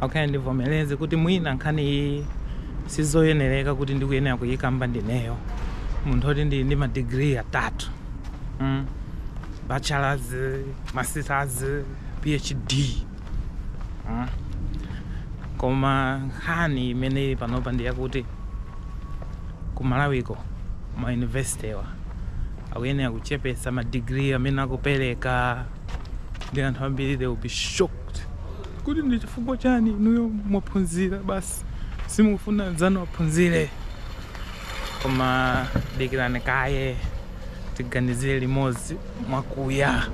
Okay, ndivomereze kuti mwina nkhani iyi sizoyenereka kuti ndikuyenera kuyikamba ndineyo munthu oti ndili ndi madigiri atatu mm. bachelors masters phd mm. koma nkhani imene ili panopa ndi yakuti ku malawiko ma university wa akuyenera kuchepetsa madigiri amene akupereka ndi anthu ambiri they will be shocked Kuti ndi chifukwa chani inuyo mwaphunzira basi simukufuna anzanu aphunzire? Koma dikirani kaye tiganizire limodzi mwakuya.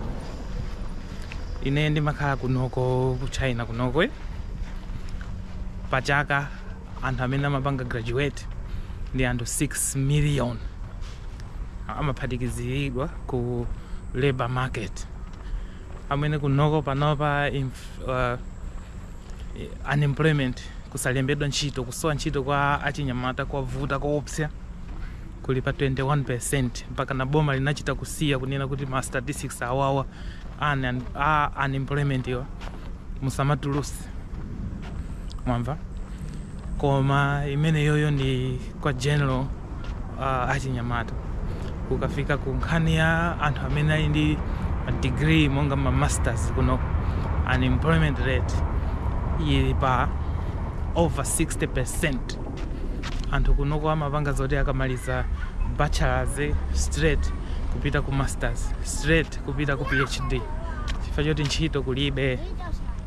Ine ndimakhala kunoko ku China kunoko eh? pa chaka anthu amene amapanga graduate ndi anthu 6 million amaphatikiziridwa ku labor market amene kunoko panopa uh, unemployment kusalembedwa ntchito kusowa ntchito kwa achinyamata kwavuta koopsa kuli pa 21% mpaka na boma linachita kusiya kunena kuti ma statistics awawa a unemployment yo musamatulutse mwamva koma imeneyoyo ndi ya general uh, achinyamata kukafika ku nkhani ya anthu amene ali ndi degree monga ma masters kuno unemployment rate ili pa over 60 percent anthu kunoko amapanga zoti akamaliza bachelors straight kupita ku masters straight kupita ku phd chifukwa choti ntchito kulibe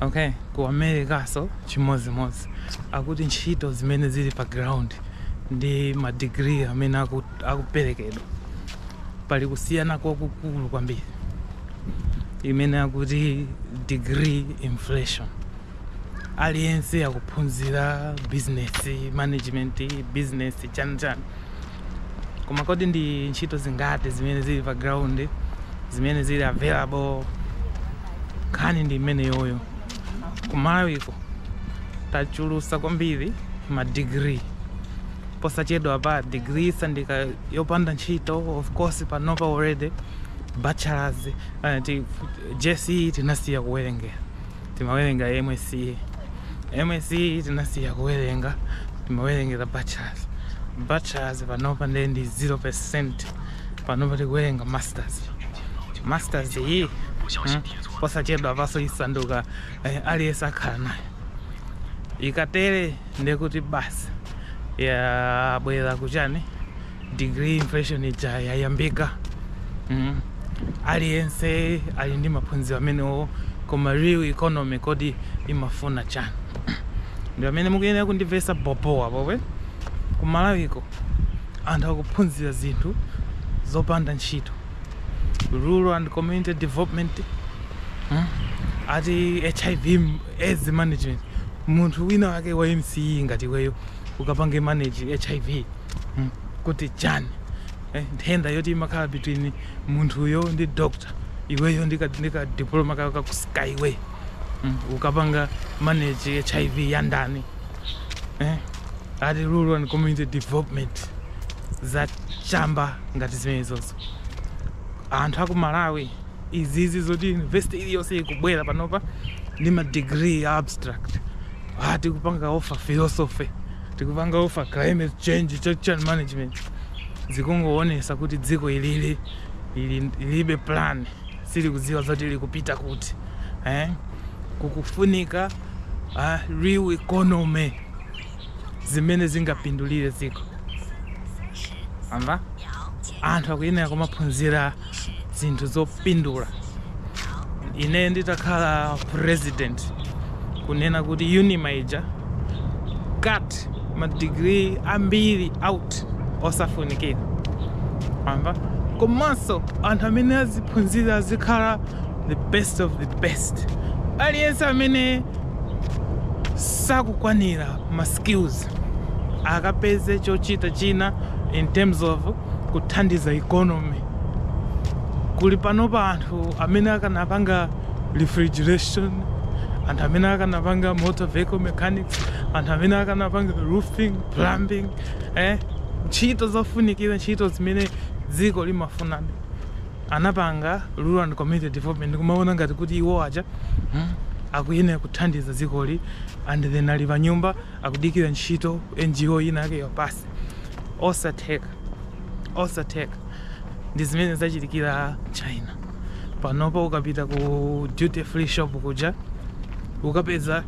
okay ku Americanso chimodzimodzi akuti ntchito zimene zili pa ground ndi madigiri amene aku- akuperekedwa pali kusiyana kwakukulu kwambiri imene akuti degree inflation aliyense akuphunzira business management business chani chani koma kodi ndi ntchito zingati zimene zili pa ground zimene zili available nkhani ndi imeneyoyo kumalawiko tachulutsa kwambiri ma degree posachedwapa degree isanduka yopanda ntchito of course panopa already bachelors uh, ti, jce tinasiya kuwerengera timawerenga msce msce tinasiya kuwerenga timawerengera bachelors bachelors panopa ndiye ndi 0% panopa tikuwerenga masters masters iyi mm, posachedwapanso isanduka eh, aliyense akhala nayo ikatere ndiye kuti basi yabwera kuchani degree inflation ija yayambika mm. aliyense ali ndi maphunziro amenewo koma real economy kodi imafuna chani ndi pamene mukuyenera kundimvesa bobo apo kuti kumalawiko anthu akuphunzira zinthu zopanda ntchito rural and community development mm. ati hiv aids management munthu wina wake wa msce ngati iweyo ukapange manage hiv hmm, kuti chani eh, nthenda yoti imakhala between munthuyo ndi doctor iweyo ndi kadiploma kako ka ku skyway hmm, ukapanga manage hiv ya ndani eh, ati rural and community development za chamba ngati zimenezozo anthu aku malawi izizi zoti university iliyonse ikubwera panopa ndi madegree a abstract ati tikupanga offer philosophy tikupanga offer climate change change management zikungowonesa kuti dziko ilili ili ilibe plan silikudziwa zoti likupita kuti eh? kukufunika uh, real economy zimene zingapindulire dziko amba anthu akuyenera kumaphunzira zinthu zopindula ineyo nditakhala president kunena kuti unima ija cut madigiri ambiri out osafunikira amba komanso anthu amene aziphunzira azikhala the best of the best aliyense amene sakukwanira ma skills akapeze chochita china in terms of kuthandiza economy kuli panopa anthu amene akanapanga refrigeration anthu amene akanapanga motor vehicle mechanics anthu amene akanapanga roofing plumbing eh? ntchito zofunikira ntchito zimene dziko limafunabe anapanga Rural and Community Development ndikumawona ngati kuti iwo aja hmm, akuyenera kuthandiza dzikoli and then ali panyumba akudikira ntchito NGO ina yake iwapatse osatheka osatheka ndi zimene zachitikira China panopo ukapita ku duty free shop kuja ukapeza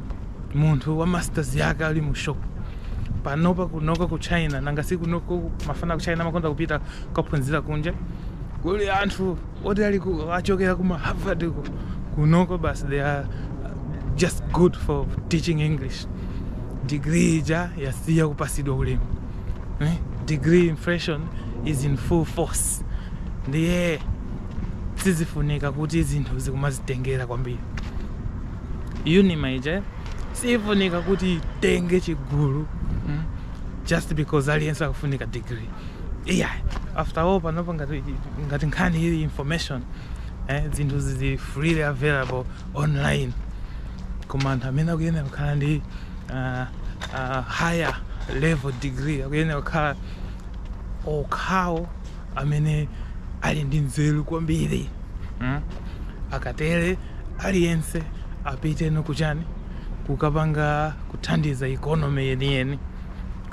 munthu wa masters yake ali mu shop panopa kunoko ku china nanga si kunoko mafana ku china amakonda kupita kukaphunzira kunja kuli anthu oti ali ku- achokera kuma harvard ku- kunoko basi they are just good for teaching english degree ija yasiya kupasidwa ulemu eh? degree inflation is in full force ndiye sizifunika kuti zinthu tizikumazitengera kwambiri unima ija siyifunika kuti itenge chigulu mm? just because aliyense akufunika degree iya after all panopa ngati, ngati nkhani ili information eh, zinthu zili freely available online koma anthu amene akuyenera kukhala ndi uh, uh, higher level degree akuyenera kukhala okhawo amene ali ndi nzeru kwambiri mm? akatere aliyense apiteno kuchani kukapanga kuthandiza ikonomi yeniyeni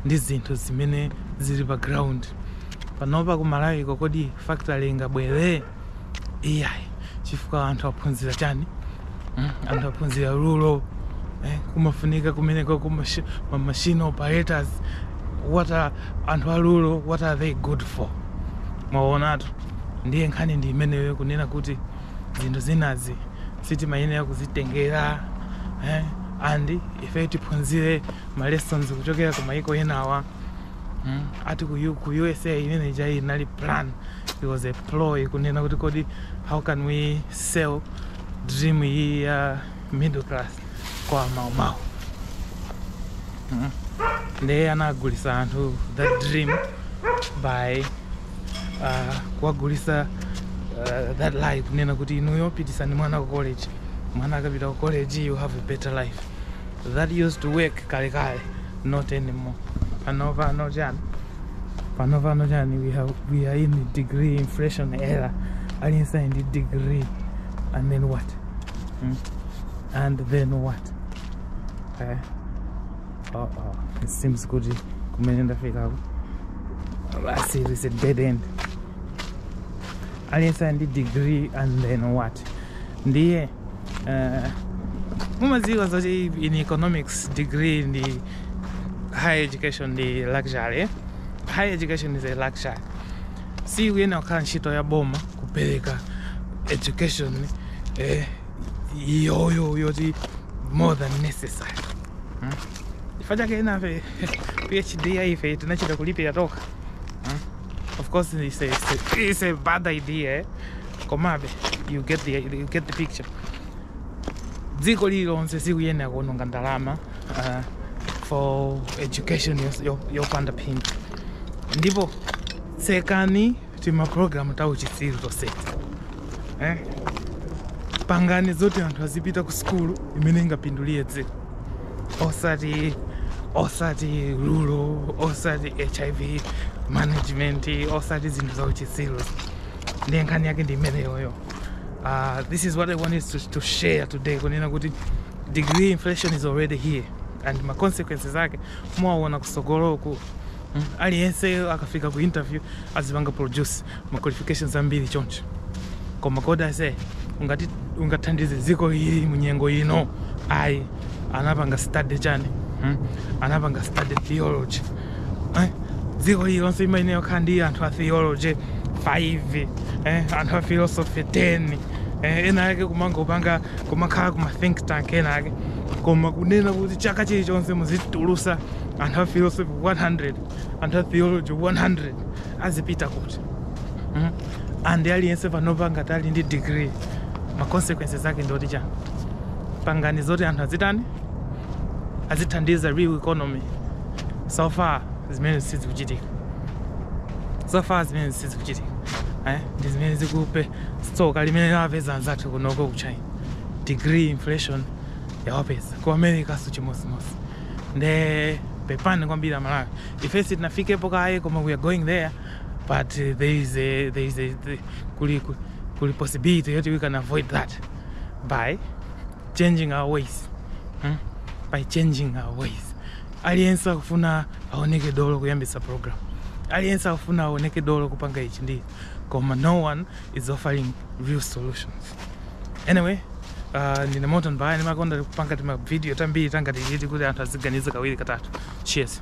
ndi zinthu zimene zili pa ground panopa ku malawiko kodi factory ingabwere iyayi chifukwa anthu aphunzira chani Mm, anthu aphunzira rural eh, kumafunika kumeneko kumashi- ma machine operators what are anthu a rural what are they good for mwaonatu ndiye nkhani ndi imeneyo kunena kuti zinthu zinazi sitimayenera kuzitengera eh? and ife tiphunzire ma lessons kuchokera ku maiko enawa mm? ati ku, U- ku usa imene ija inali plan it was a ploy kunena kuti kodi how can we sell dream iyi ya middle class kwa maumau mm? ndiye anagulisa anthu that dream by uh, kuwagulisa uh, that lie kunena kuti inuyo pitisani mwana ku college mwana akapita ku college you have a better life That used to work kale kale, not anymore. Pano pano chani? Pano pano chani? We have we are in the degree inflation era. Aliyense in the degree, and then what? Hmm? And then what? Eh? Uh oh, it seems good. Kumene ndafika basi, it's a dead end. Aliyense ndi degree and then what? Ndiye Eh, mumadziwa zoti in economics degree ndi higher education ndi luxury eh? higher education is a luxury sikuyenera kukhala ntchito ya boma kupereka education eh, iyoyo yoti more than necessary hmm? chifukwa chake enafe phd ya ife tinachita kulipira tokha hmm? of course it's a, it's a, it's a bad idea eh? komabe you get the, you get the picture dziko lililonse sikuyenera kuononga ndalama uh, for education yos- yo- yopanda phindu ndipo tsekani timapulogalamu ta uchitsiru toseti eh? pangani zoti anthu azipita ku sukulu imene ingapindulire dziko osati osati rural osati hiv management osati zinthu za uchitsiru ndiye nkhani yake ndi imeneyoyo uh, this is what i wanted to, to share today kunena kuti degree inflation is already here and ma consequences ake muwaona kusogoloku mm, aliyense akafika ku interview azipanga produce ma qualifications ambiri choncho koma kodi ase ungati ungathandize dziko ili munyengo ino ayi anapanga study chani hmm? anapanga study theology eh? dziko lililonse limayenera kukhala ndi anthu a theology 5 eh? anthu a philosophy 10 eh? ena ake kumangopanga kumakakhala kuma think tank ena ake koma kunena kuti chaka chilichonse muzitulusa anthu a philosophy 100 anthu a theology 100 azipita kuti mm? and aliyense panopa ngati ali ndi degree ma consequences ake ndi oti chani pangani zoti anthu azitani azithandiza real economy so far zimene sizikuchitika so far zimene sizikuchitika eh ndi zimene zikupe tsoka limene lawapeza anzathu kunoko ku china degree inflation yawapeza ku americanso chimodzimodzi nde pepani kwambiri amalawi ife sitinafikepo kaye koma we are going there but uh, there is a, there is a, the, kuli, kuli possibility yoti we can avoid that by changing our ways hmm? by changing our ways aliyense akufuna aoneke dolo kuyambitsa program aliyense akufuna aoneke dolo kupanga ichi ndi koma no one is offering real solutions anyway uh, ndine moto mbaya ndimakonda kupanga timavidiyo tambiri tangati titi kuti anthu aziganiza kawiri katatu cheers